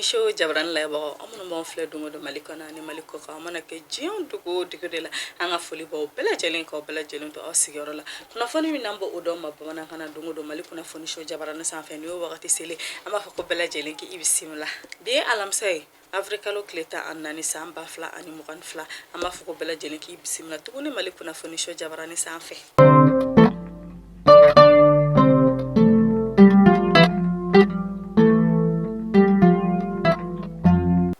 so jabarani lajɛbagaw aw minnu b'an filɛ don o don mali kɔnɔ ani mali kɔkan a mana kɛ diɲɛ dugu o dugu de la an ka foli b'aw bɛɛ lajɛlen k'aw bɛɛ lajɛlen to aw sigiyɔrɔ la kunnafoni min n'an b'o d'aw ma bamanankan na don o don mali kunnafoni so jabarani sanfɛ ni o wagati selen an b'a fɔ k'aw bɛɛ lajɛlen k'i bisimila bi ye alamisa ye Awirilikalo tile tan ani naani san ba fila ani mugan ni fila an b'a fɔ k'aw bɛɛ lajɛlen k'i bisimila tuguni Mali kunnafoni so jabarani sanfɛ.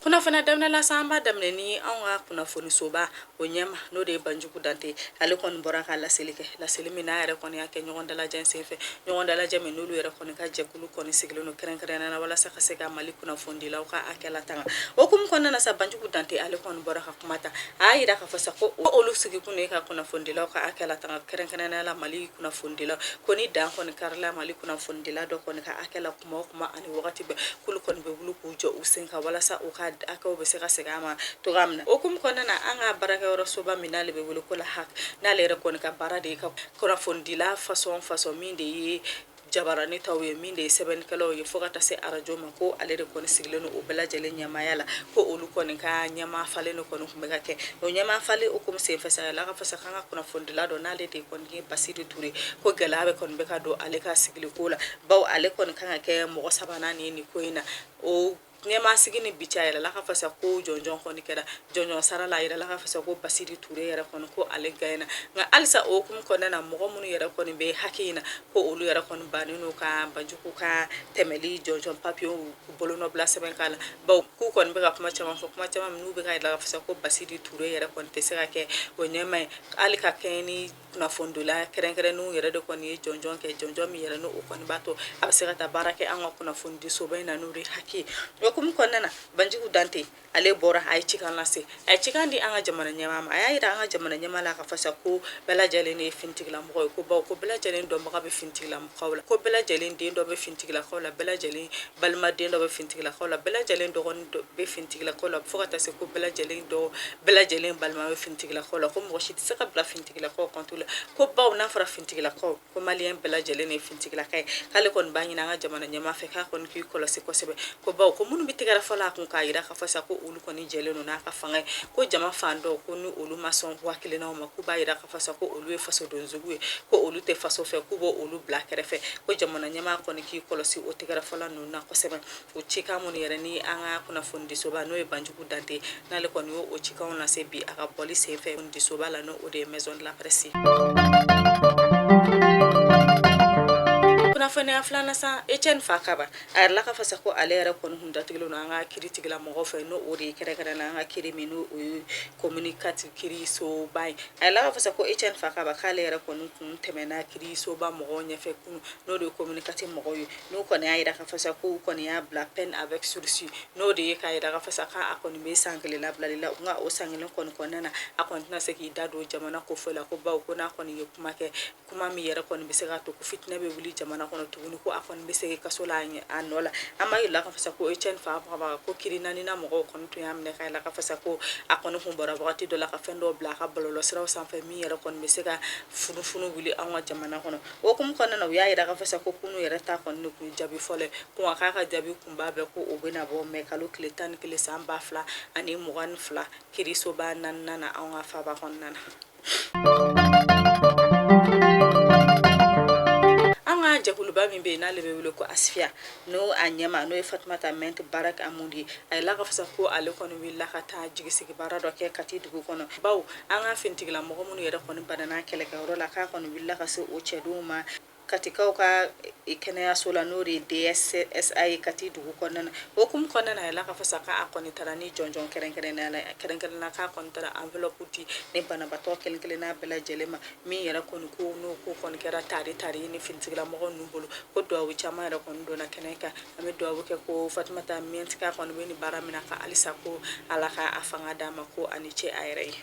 Kunnafoniya daminɛ la sa an b'a daminɛ ni anw ka kunnafonisoba o ɲɛmaa n'o de ye banjugu dante ale kɔni bɔra ka laseli kɛ laseli min n'a yɛrɛ kɔni y'a kɛ ɲɔgɔn dalajɛ senfɛ ɲɔgɔn dalajɛ min n'olu yɛrɛ kɔni ka jɛkulu kɔni sigilen don kɛrɛnkɛrɛnnenya na walasa ka se ka mali kunnafonidilaw ka hakɛ latanga o hukumu kɔnɔna na sa banjugu dante ale kɔni bɔra ka kuma ta a y'a yira k'a fɔ sa ko olu sigikun de ye ka kunnafonidilaw ka hakɛ latanga kɛrɛnkɛrɛnnenya la mali kunnafonidilaw ko ni dan kɔni karila mali kunnafonidila dɔ kɔni ka hakɛ la kuma o kuma ani wagati bɛɛ k'olu kɔni bɛ wuli k'u jɔ u sen ka walasa u ka hakɛw bɛ se ka segin a ma cogoya min na o hukumu kɔnɔna na an ka baarakɛyɔrɔ soba min n'ale bɛ wele ko la HAC n'ale yɛrɛ kɔni ka baara de ye ka kunnafonidila fasɔn fasɔn min de ye jabarani taw ye min de ye sɛbɛnnikɛlaw ye fo ka taa se arajo ma ko ale de kɔni sigilen don o bɛɛ lajɛlen ɲɛmaaya la ko olu kɔni ka ɲɛmaa falen de kɔni tun bɛ ka kɛ o ɲɛmaa falen o hukumu senfɛ sa yirala k'a fɔ sa k'an ka kunnafonidila dɔ n'ale de kɔni ye basiri ture ko gɛlɛyaba kɔni bɛ ka don ale ka sigiliko la bawo ale kɔni kan ka kɛ mɔgɔ sabanan ye nin ko in na o ɲɛmaa sigi ni bi cɛ a yirala k'a fɔ sa ko jɔnjɔn kɔni kɛra jɔnjɔn sara la a yirala k'a fɔ sa ko basiri ture yɛrɛ kɔni ko ale gaɲɛna nka halisa o hukumu kɔnɔna na mɔgɔ minnu yɛrɛ kɔni bɛ HAC in na ko olu yɛrɛ kɔni bannen don ka banjugu ka tɛmɛli jɔnjɔn papiyew bolonɔbila sɛbɛn k'a la bawo k'u kɔni bɛ ka kuma caman fɔ kuma caman minnu bɛ k'a yira k'a fɔ sa ko basiri ture yɛrɛ kɔni tɛ se ka kɛ o ɲɛmaa ye hali ka kɛɲɛ ni kunnafonidila kɛrɛnkɛrɛnnenw yɛrɛ de kɔni ye jɔnjɔn kɛ jɔnjɔn min yɛrɛ n'o o kɔni b'a to a bɛ se ka taa baara kɛ an ka kunnafonidisoba in na n'o de ye HAC ye o hukumu kɔnɔna na banjugu dante ale bɔra a ye cikan lase a ye cikan di an ka jamana ɲɛmaa ma a y'a jira an ka jamana ɲɛmaa la k'a fɔ sa ko bɛɛ lajɛlen de ye finitigilamɔgɔ ye ko bawo ko bɛɛ lajɛlen dɔnbaga bɛ finitigilamɔgɔ ko bɛɛ lajɛlen den dɔ bɛ finitigilakaw la bɛɛ lajɛlen balima den dɔ bɛ finitigilakaw la bɛɛ lajɛlen dɔgɔnin dɔ bɛ finitigilakaw la fo ka taa se ko bɛɛ lajɛlen dɔ bɛɛ lajɛlen balima bɛ finitigilakaw la ko mɔgɔ si tɛ se ka bila finitigilakaw kɔntiri la ko bawo n'a fɔra finitigilakaw ko maliyɛn bɛɛ lajɛlen ye finitigilaka ye k'ale kɔni b'a ɲini an ka jamana ɲɛmaa fɛ k'a kɔni k'i kɔlɔsi kosɛbɛ ko bawo ko minnu bɛ tɛgɛrɛfɔ la a kun k'a jira k'a fɔ sa ko olu kɔni jɛlen don n'a ka fanga ye ko jama fan dɔ ko ni olu ma sɔn waati kelen ma ko b'a jira fasa ko olu ye faso denjuguw ye ko olu tɛ faso fɛ k'u bɔ olu bila kɛrɛfɛ ko jamana ɲɛmaa kɔni k'i kɔlɔsi o tɛgɛrɛfɔla ninnu na kosɛbɛ o cikan minnu yɛrɛ ni an ka kunnafonidisoba n'o ye banjugu dante n'ale kɔni y'o o cikanw lase bi a ka bɔli senfɛ kunnafonidisoba la n'o o de ye maison de la presse kunnafoni filanan sa Etienne Fakaba a yirala ka fasa ko ale yɛrɛ kɔni kun datugulen don an ka kiritigila mɔgɔ fɛ n'o o de ye kɛrɛnkɛrɛn na an ka kiri min n'o o ye commune quatre kiirisoba ye a yirala ka fasa ko Etienne Fakaba k'ale yɛrɛ kɔni kun tɛmɛna kiirisoba mɔgɔw ɲɛfɛ kunu n'o de ye commune quatre mɔgɔw ye n'u kɔni y'a yira ka fasa k'u kɔni y'a bila peine avec sursis n'o de ye k'a yira ka fasa k' a kɔni bɛ san kelen labilali la nka o san kelen kɔni kɔnɔna na a kɔni tɛna se k'i da don jamana ko fɔ la ko baw ko n'a kɔni ye kuma kɛ kuma min yɛrɛ kɔni bɛ se ka to ko fitinɛ bɛ wuli jamana kɔnɔ tuguni ko a kɔni bɛ segin kaso la a ɲɛ- a nɔ la an b'a yirala ka fasa ko Etienne Fakaba ko kiri naaninan mɔgɔw kɔni tun y'a minɛ k'a yirala ka fasa ko a kɔni kun bɔra wagati dɔ la ka fɛn dɔw bila a ka bɔlɔlɔsiraw sanfɛ min yɛrɛ kɔni bɛ se ka funufunu wuli an ka jamana kɔnɔ o hukumu kɔnɔna na u y'a yira ka fasa ko kunu yɛrɛ ta kɔni de kun ye jaabi fɔlɔ ye ko nka k'a ka jaabi kunba bɛɛ ko o bɛna bɔ mɛ kalo tile tan ni kelen san ba fila ani mugan ni fila kirisoba naaninan na an ka faaba kɔnɔna na an ka jɛkuluba min bɛ yen n'ale bɛ wele ko asifiya n'o a ɲɛmaa n'o ye fatumata mɛnti baraka amudi ye a yirala ka fasa ko ale kɔni wulila ka taa jigisigi baara dɔ kɛ kati dugu kɔnɔ baw an ka finitigilamɔgɔ minnu yɛrɛ kɔni banana kɛlɛkɛyɔrɔ la k'a kɔni wulila ka se o cɛdenw ma Katikaw ka kɛnɛyaso la n'o de ye DSSA ye kati dugu kɔnɔna o hukumu kɔnɔna na a yirala ka fasa k'a kɔni taara ni jɔnjɔn kɛrɛnkɛrɛn na k'a kɔni taara enveloppe di ni banabatɔ kelen kelen n'a bɛɛ lajɛlen ma min yɛrɛ kɔni ko n'o ko kɔni kɛra tare ta ye ni finitigila mɔgɔ ninnu bolo ko dugawu caman yɛrɛ kɔni donna kɛnɛ kan an bɛ dugawu kɛ ko fatumata mɛnti kɔni bɛ ni baara min na ka halisa ko ala k' a fanga d'a ma ko a ni ce a yɛrɛ ye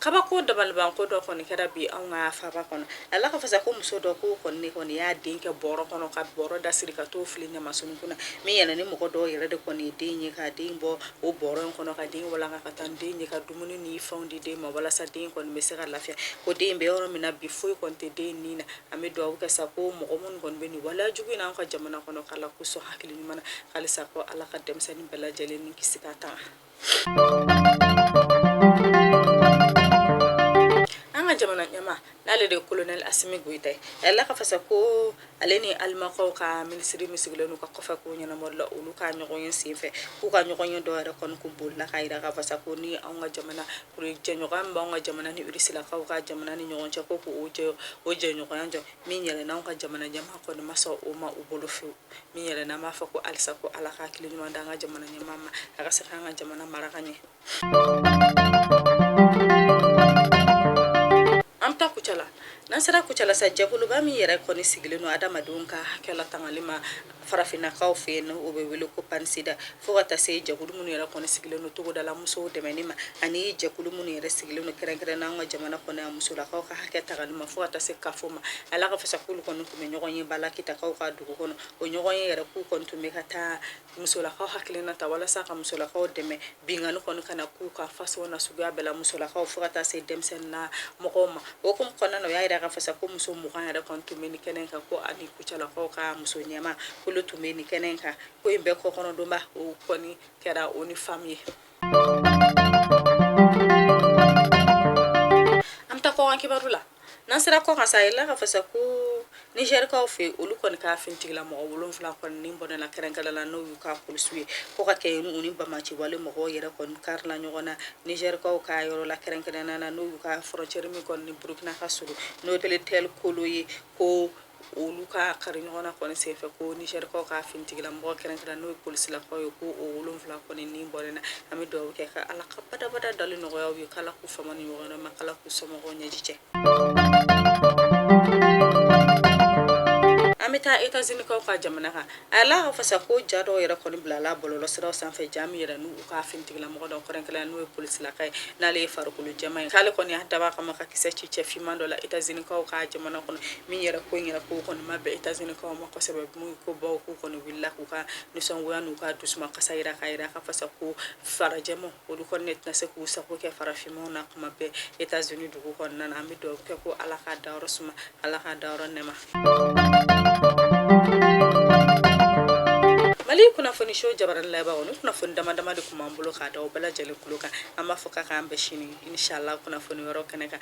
kabako dabalibanko dɔ kɔni kɛra bi anw ka faaba kɔnɔ a yirala ka fasa ko muso dɔ ko kɔni kɔni y'a den kɛ bɔrɔ kɔnɔ ka bɔrɔ da siri ka t'o fili ɲamasunun kunna min yɛrɛ ni mɔgɔ dɔw yɛrɛ de kɔni ye den ye ka den bɔ o bɔrɔ in kɔnɔ ka den walanga ka taa ni den ye ka dumuni ni fɛnw di den ma walasa den kɔni bɛ se ka lafiya ko den bɛ yɔrɔ min na bi foyi kɔni tɛ den nin na an bɛ dugawu kɛ sa ko mɔgɔ minnu kɔni bɛ nin wale jugu in na an ka jamana kɔnɔ k'ala k'u sɔn hakili ɲuman na halisa ko ala ka denmisɛnnin bɛɛ lajɛlen ni kisi k'a tanga an ka jamana ɲɛmaa n'ale de ye kolonɛli asimi goyita ye a yirala ka fasa ko ale ni alimankaw ka minisiri min sigilen u ka kɔfɛkow ɲɛnabɔli la olu ka ɲɔgɔn ye senfɛ k'u ka ɲɔgɔn ye dɔ yɛrɛ kɔni kun bolila ka yira ka fasa ko ni anw ka jamana O ye jɛɲɔgɔnya min b'an ka jamana ni Rusilakaw ka jamana ni ɲɔgɔn cɛ ko ko o jɛ o jɛɲɔgɔnya jɔ min yɛrɛ la anw ka jamana ɲɛmaa kɔni ma sɔn o ma u bolo fewu min yɛrɛ la an b'a fɔ ko halisa ko Ala ka hakili ɲuman d'an ka jamana ɲɛmaa ma a ka se k'an ka jamana mara ka ɲɛ an bɛ taa Kucala n'an sera Kucala sa jɛkuluba min yɛrɛ kɔni sigilen don adamadenw ka hakɛ latangali ma farafinakaw fɛ yen o bɛ wele ko pansida fo ka taa se jɛkulu minnu yɛrɛ kɔni sigilen don togodala musow dɛmɛni ma ani jɛkulu minnu yɛrɛ sigilen don kɛrɛnkɛrɛn n'an ka jamana kɔnɔ yan musolakaw ka hakɛ tangali ma fo ka taa se kafo ma a la k'a fɔ sa k'olu kɔni tun bɛ ɲɔgɔnyeba la kitakaw ka dugu kɔnɔ o ɲɔgɔnye yɛrɛ k'u kɔni tun bɛ ka taa musolakaw hakilina ta walasa ka musolakaw dɛmɛ Binkanni kɔni kana k'u kan fasɔn n'a suguya bɛɛ la musolakaw fo ka taa se denmisɛnna mɔgɔw ma o kunbɛn kɔnɔna na u y'a jira k'a fɔ sa ko muso mugan yɛrɛ kɔni tun bɛ nin kɛnɛ kan ko ani kucalakaw ka muso ɲɛmaa k'olu tun bɛ nin kɛnɛ kan ko in bɛɛ kɔkɔrɔdonbaa o kɔni kɛra ONU Femmes ye an bɛ taa kɔkan kibaru la N'an sera kɔkan sa a yirala k'a fɔ sa ko nizɛrikaw fɛ olu kɔni ka finitigila mɔgɔ wolonfila kɔni ni bɔnɛna kɛrɛnkɛrɛn la n'o y'u ka polisiw ye ko ka kɛ u ni banbaanci wale mɔgɔw yɛrɛ kɔni karila ɲɔgɔn na nizɛrikaw ka yɔrɔ la kɛrɛnkɛrɛn na n'o y'u ka frontière min kɔni ni burukina ka surun n'o ye Petɛlkoli ye ko olu ka kari ɲɔgɔn na kɔni senfɛ ko nizɛrikaw ka finitigila mɔgɔ kɛrɛnkɛrɛn n'o ye polisilakaw ye ko o wolonfila kɔni ni bɔnɛna an bɛ dugawu kɛ ko ala ka badabada dali nɔgɔya u ye k'ala k'u fama nin ɲɔgɔn ma ala k'u somɔgɔw ɲɛji cɛ an bɛ taa etazinikaw ka jamana kan a la k'a fɔ sa ko ja dɔw yɛrɛ kɔni bilala bɔlɔlɔsiraw sanfɛ ja min yɛrɛ n'u ka finitigila mɔgɔ dɔ kɛrɛnkɛrɛn n'o ye polisilaka ye n'ale ye farikolo jɛma ye k'ale kɔni y'a dab'a kama ka kisɛ ci cɛ finman dɔ la etazinikaw ka jamana kɔnɔ min yɛrɛ ko in yɛrɛ ko kɔni ma bɛn etazinikaw ma kosɛbɛ mun ko bawo k'u kɔni wulila k'u ka nisɔngoya n'u ka dusumakasi yira k'a yira k'a fɔ sa ko farajɛma olu kɔni tɛna se k'u sago kɛ farafinmaw na kuma bɛɛ etazini dugu kɔnɔna na an bɛ dugawu kɛ ko ala k'a dayɔrɔ suma Allah k'a dayɔrɔ nɛɛma mali kunnafoni show jabarani lajɛbagaw nin kunnafoni dama dama de kun b'an bolo k'a da aw bɛɛ lajɛlen kulo kan an b'a fɔ ko k'an bɛn sini inshallah kunnafoni wɛrɛw kɛnɛ kan